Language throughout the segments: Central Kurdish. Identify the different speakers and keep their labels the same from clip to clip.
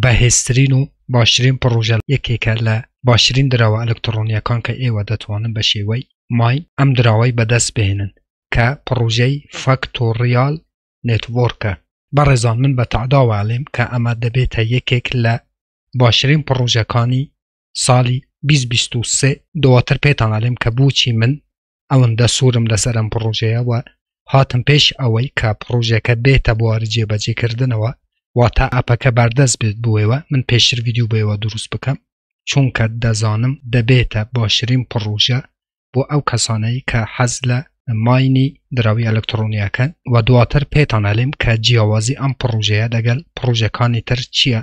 Speaker 1: بەهێزترین و باشترین پڕۆژە یەکێکە لە باشترین دراوە ئەلکتڕۆنیەکان کە ئێوە دەتوانن بە شێوەی مای ئەم دراوەی بەدەست بهێنن کە پڕۆژەی فاکتۆڕیال نێتوۆرکە. بەڕێزان من بە تەعداوە ئەڵێم کە ئەمە دەبێتە یەکێک لە باشترین پڕۆژەکانی ساڵی بیست بیست و سێ دواتر پێتان ئەڵێم کە بۆچی من ئەوەندە سوورم لەسەرم پڕۆژەیە و هاتم پێش ئەوەی کە پڕۆژەکە بێتە بوار جێبەجێکردنەوە واتا ئەپەکە بەردەست بێت بۆەوە من پێشتر ویددیو بەوە دروست بکەم چونکە دەزانم دەبێتە باشترین پڕۆژە بۆ ئەو کەسانەی کە حەز لە ماینی دراوی ئەلکترۆنیەکەن و دواتر پێتانەلیم کە جیاوازی ئەم پڕۆژەیە دەگەل پڕۆژەکانی تر چییە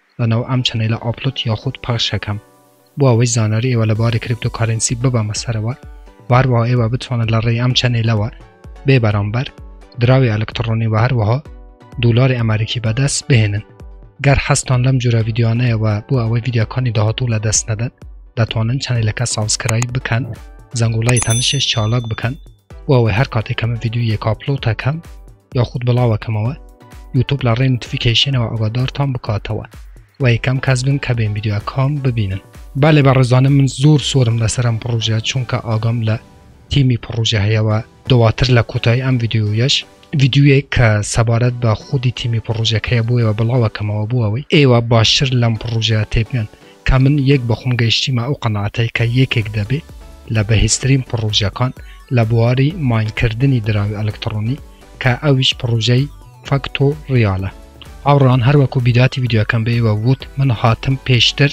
Speaker 1: لەناو ئەم چەنەیلە ئاپلۆد یاخود پەخش ئەکەم بۆ ئەوەی زانیاری ئێوە لەبارەی کریپتۆکارێنسی ببەمە سەرەوە و هەروەها ئێوە بتوانن لە ڕێی ئەم چەنەیلەوە بێ بەرامبەر دراوی ئەلکتڕۆنی و هەروەها دولاری ئەمەریکی بەدەست بهێنن گەر حەزتان لەم جورە ڤیدیۆانەیە و بۆ ئەوەی ڤیدیۆکانی داهاتوو لە دەست نەدەن دەتوانن چەنەیلەکە سابسکرایب بکەن زەنگوڵای تەنشش چالاک بکەن بۆ ئەوەی هەر کاتێکەمە ڤیدیۆ یەک ئاپلۆتەکەم یاخود بڵاوەکەمەوە یوتوب لە ڕێ نوتفیکەیشنەوە ئەگادارتان بکاتەوە و یەکەم کەس بن کە بێن یددیوە کام ببینن بالێ بە ڕێزانم من زۆر سۆرم لەسەرم پڕۆژە چونکە ئاگام لە تیمی پڕۆژە هەیەەوە دواتر لە کۆتایی ئەم یددیویش یددیوێک کە سەبارەت بە خودی تیمی پڕۆژەکەیە بۆیەوە بڵاوەکەمەوە بۆەوەی ئێوە باشتر لەم پڕۆژە تێبگەن کە من یەک بەخۆم گەیشتیمە ئەو قەناعەتەی کە یەکێک دەبێ لە بەهێزترین پڕۆژەکان لە بواری ماینکردنی دراوی ئەلکتڕۆنی کە ئەویش پڕۆژەی فاکتۆ ڕیالە. هاوڕێیان هەر وەکو بیداتی ڤیدیۆکەم بە ئێوە ووت من هاتم پێشتر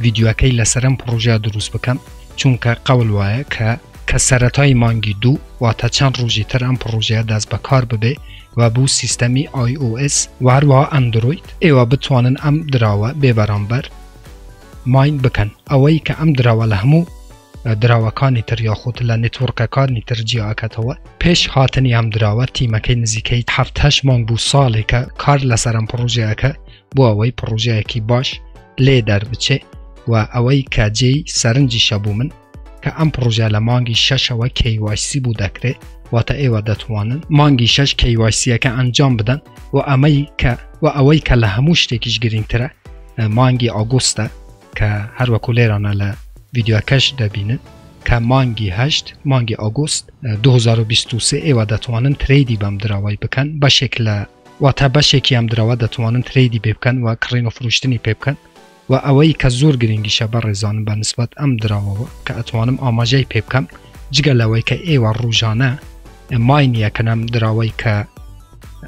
Speaker 1: ڤیدیۆکەی لەسەر ئەم پڕۆژە دروست بکەم چونکە قەول وایە کە کە سەرەتای مانگی دوو واتە چەند ڕۆژی تر ئەم پڕۆژەیە دەست بەکار ببێ و بۆ سیستەمی ئای ئۆ ئێس و هەروەها ئەندرۆید ئێوە بتوانن ئەم دراوە بێ بەرامبەر ماین بکەن ئەوەی کە ئەم دراوە لە هەموو دراوەکانی تر یاخود لە نێتوەڕکەکانی تر جیاکەتەوە پێش هاتنی ئەم دراوە تیمەکەی نزیکەی هەفتهش مانگ بوو ساڵێکە کار لەسەرم پڕۆژەکە بۆ ئەوەی پڕۆژەیەکی باش لێ دەربچێ و ئەوەی کە جێی سەرنجیشە بوو من کە ئەم پڕۆژە لە مانگی شەشەوە KYC بوو دەکرێت واتە ئێوە دەتوانن مانگی شەش KYCەکە ئەنجام بدەن و ئەمەی کە و ئەوەی کە لە هەموو شتێکیش گرنگترە مانگی ئاگوستە کە هەروەکو لێرانە لە ڤیددیوکەش دەبینن کە مانگی هەشت مانگی ئۆگوست 2023 ئێوە دەتوانن تریدی بەم درەوەی بکەن بەشێک لە واتە بەشێکی ئەم درەوە دەتوانن تریدی بێ بکەن و کڕین و فروشتنی پێ بکەن وە ئەوەی کە زۆر گرنگیشە بەڕێزانم بە نسبەت ئەم دراوەوە کە ئەتوانم ئاماژەی پێ بکەم جگە لەوەی کە ئێوە ڕوژانە مای نییە کە نەم دراوەی کە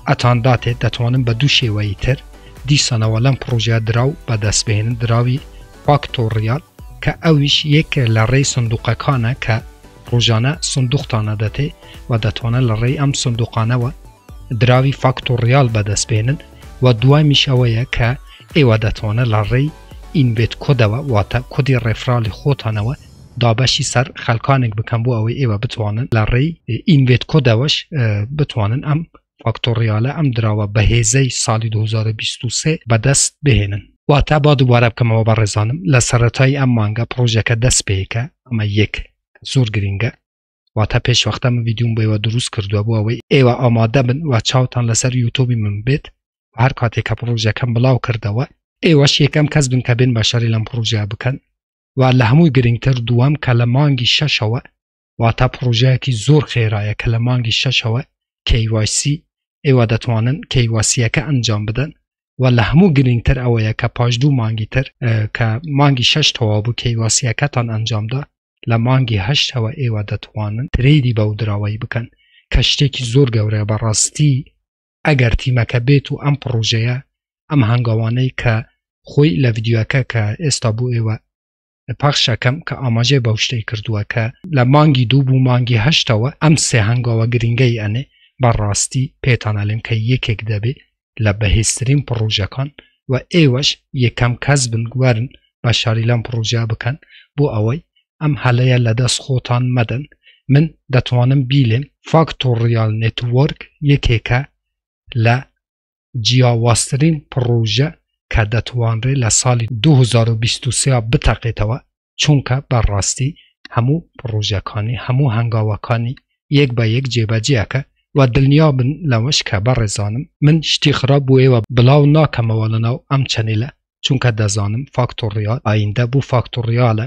Speaker 1: ئەتان داتێت دەتوانم بە دوو شێوەی تر دیسانەوە لەم پڕۆژە دراو بەدەست بهێنن دراوی فاکتۆڕیال کە ئەویش یەک لە ڕێی سندوقەکانە کە ڕۆژانە سندوختانە دەتێ و دەتوانە لە ڕێی ئەم سندوقانەوە دراوی فاکتۆڕیال بەدەستبێنن و دوای میشەوەیە کە ئێوە دەتوانن لە ڕێی Embed Codeەوە واتە کۆدی ڕێفرالی خۆتانەوە دابەشی سەر خەلکانێک بکەن بۆ ئەوەی ئێوە بتوانن لە ڕێی Embed Codeەوەش بتوانن ئەم فاکتۆڕیالە ئەم دراوە بەهێزەی ساڵی 2023 بەدەست بهێنن. واتە با دووبارە بکەمەوە بەڕێزانم لە سەرەتای ئەم مانگە پڕۆژەکە دەست پێکە ئەمە یەک زۆر گرنگە واتە پێشوەختە من ویددیوم بۆەوە دروست کردووە بۆ ئەوەی ئێوە ئامادە بن و چاوتان لەسەر یوتۆبی من بێت هەر کاتێک کە پرۆژەکەم بڵاو کردەوە ئێوەش یەکەم کەس بن کە بێن بە شەری لەم پرۆژە بکەن و لە هەمووی گرنگتر دووەم کە لە مانگی شەشەوە واتە پرۆژەیەکی زۆر خێرایە کە لە مانگی شەشەوە کەیواسی ئێوە دەتوانن کەیواسیەکە ئەنجام بدەن و لە هەموو گرنگتر ئەوەیە کە پاش دوو مانگی تر کە مانگی شش تەوا بوو کەیواسیەکەتان ئەنجامدا لە مانگی هەشتەوە ئێوە دەتوانن ترێدی بەو دراوەی بکەن کە شتێکی زۆر گەورەیە بەڕاستی ئەگەر تیمەکە بێت و ئەم پڕۆژەیە ئەم هەنگاوانەی کە خۆی لە ڤیددیوەکە کە ئێستا بوو ئێوە پاخشەکەم کە ئاماژەی بەو شتەی کردووە کە لە مانگی دوو بوو مانگی هەشتەوە ئەم سێ هەنگاوە گرنگەی ئەنێ بەڕاستی پێتانەلێم کە یەکێک دەبێ لە بەهێزترین پڕۆژەکان و ئێوەش یەکەم کەس بن گوارن بە شاری لەم پڕۆژە بکەن بۆ ئەوەی ئەم هەلەیە لە دەست خۆتان مەدەن من دەتوانم بیلێم فاکتۆڕیال نێتوەرک یەکێکە لە جیاوازترین پڕۆژە کە دەتوانرێت لە ساڵی دوو هەزار و بیست و سێ بتەقێتەوە چونکە بەڕاستی هەموو پڕۆژەکانی هەموو هەنگاوەکانی یەک بە یەک جێبەجێ ئەکا و دڵنیابن لەوەش کە بەڕێزانم من شتی خراپ بۆ ئێوە بڵاو ناکەمەوە لەناو ئەم چەنێلە چونکە دەزانم فاکتۆڕیال ئایندە بۆ فاکتۆڕیالە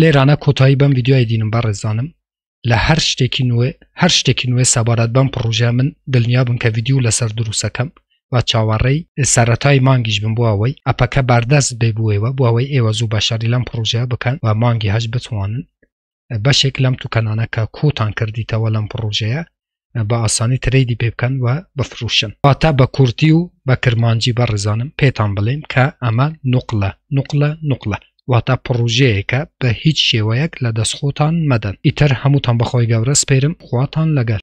Speaker 1: لێرانە کۆتایی بەم ویددیوای دینم بە ڕێزانم لە هەر شتێکی نوێ هەر شتێکی نوێ سەبارەت بەم پڕۆژە من دڵنیا بن کە ویددیو لەسەر دروستەکەم و چاوەڕێی سەرەتای مانگیش بم بۆەوەی ئەپەکە باردەست بێ بووەوە بۆەوەی ئێوە زوو بەشاری لەم پڕۆژە بکەن و مانگی هەش بتوانن بەشێک لەم توکەنانە کە کۆتان کردیتەوە لەم پڕۆژەیە بە ئاسانی ترەیدی پێ بکەن و بفڕوشن واتا بە کورتی و بە کرمانجی بە ڕێزانم پێتان بڵێم کە ئەمە نوقلە نوقلە نوقلە واتا پڕوژەیەکە بە هیچ شێوەیەک لە دەست خۆتان مەدەن ئیتر هەمووتان بەخۆی گەورە سپێرم خواتان لەگەل